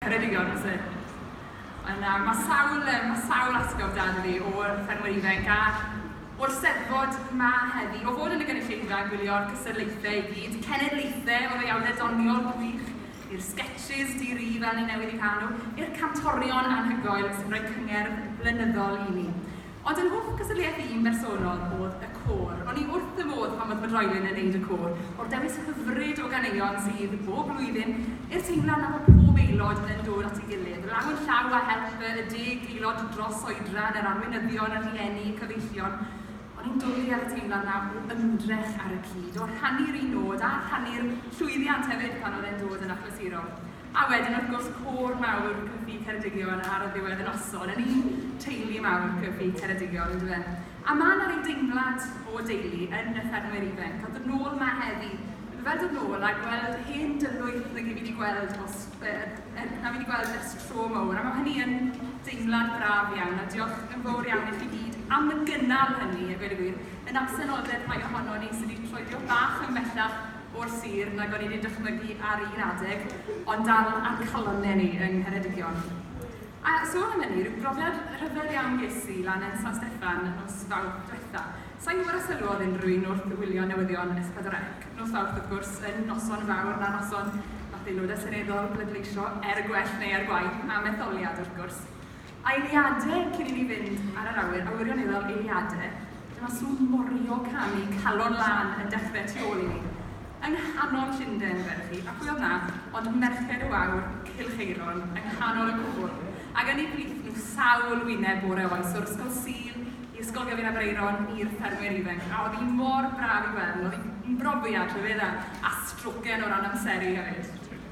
Ceredigion yn sydyn. Ond nawr, mae sawl, yym, mae sawl atgof 'da fi o'r ffermwyr ifainc a o'r Steddfod 'ma heddi, o fod yn y gynulleidfa yn gwylio'r cystadlaethau i gyd, cenedlaethau o ddeuawdau doniol gwych, i'r sgetshis di-ri fel ni newydd eu cael nhw, i'r cantorion anhygoel sy'n rhoi cyngerdd blynyddol i ni. Ond yr hoff gystadleuaeth i'n bersonol o'dd y côr. O'n i wrth fy modd pan oedd fy droelyn yn neud y côr. O'r dewis hyfryd o ganeuon sydd bob blwyddyn, i'r teimlad na fo pob aelod yn dod at ei gilydd, law yn llaw â help y y deg aelod dros oedran, yr arweinyddion, y rhieni, y cyfeillion, o'n i'n dwli ar y teimlad na o ymdrech ar y cyd, o rhannu'r un nod, a rhannu'r llwyddiant hefyd pan oedd e'n dod yn achlysurol. A wedyn wrth gwrs côr mawr Cyfi Ceredigion ar y ddiwedd y noson, yn un teulu mawr Cyfi Ceredigion on'd yfe? A ma' 'na ryw deimlad o deulu yn y ffermwyr ifainc, a dod nôl 'ma heddi, ma' fel dod nôl a gweld hen dylwyth nag 'yf fi 'di gweld os yy er na fi 'di gweld ers tro mowr, a ma' hynny yn deimlad braf iawn, a diolch yn fowr iawn i chi gyd am y gynnal hynny a gweud y gwir, yn absenoldeb rhai ohonon ni sy' 'di troedio bach yn bellach, o'r sir nag o'n i wedi dychmygu ar un adeg, ond dal a'n calon neu yng Ngheredigion. A sôn am hynny, rhyw brofiad rhyfedd iawn ges i lan yn San Steffan nos Fawrth diwetha. Sa i'n gwybod os sylwodd unrhyw un wrth wylio newyddion S4C nos Fawrth, wrth gwrs, yn noson fawr na noson wnaeth Aelodau Seneddol bleidleisio, er y gwell neu er gwaeth, am etholiad, wrth gwrs. Eiliade cyn i ni fynd ar yr awyr, a wirioneddol eiliade, dyma sŵn morio canu calon lân yn dechrau tu ôl i ni. Yng nghanol Llundain, wedd hi, a pwy oedd 'na ond merched y wawr, Cylcheiron, yng nghanol y cwbl, ac yn eu plith nhw sawl wyneb bore oes, o'r ysgol Sul i ysgol Gefin Aberaeron i'r ffermwyr ifainc, a oedd hi mor braf i weld, oedd hi'n brofiad rhyfeddau, a stroken o ran amseru hefyd.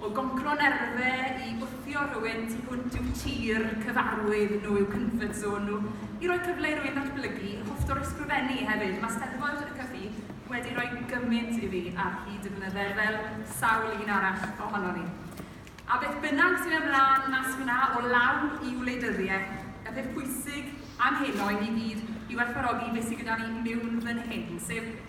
O goncro nerfe i wthio rhywun tu hwnt i'w tir, cyfarwydd nhw, i'w comfort zone nhw, i roi cyfle i rywun ddatblygu, hoffter o ysgrifennu hefyd, mae Steddfod y Cyffi wedi rhoi gymaint i fi ar hyd y blynydde fel sawl un arall ohonon ni. A beth bynnag sy'n mynd mlaen mas fanna o law i wleidyddiaeth, y peth pwysig am heno i ni gyd yw werthfawrogi beth sydd gyda ni miwn fan hyn, sef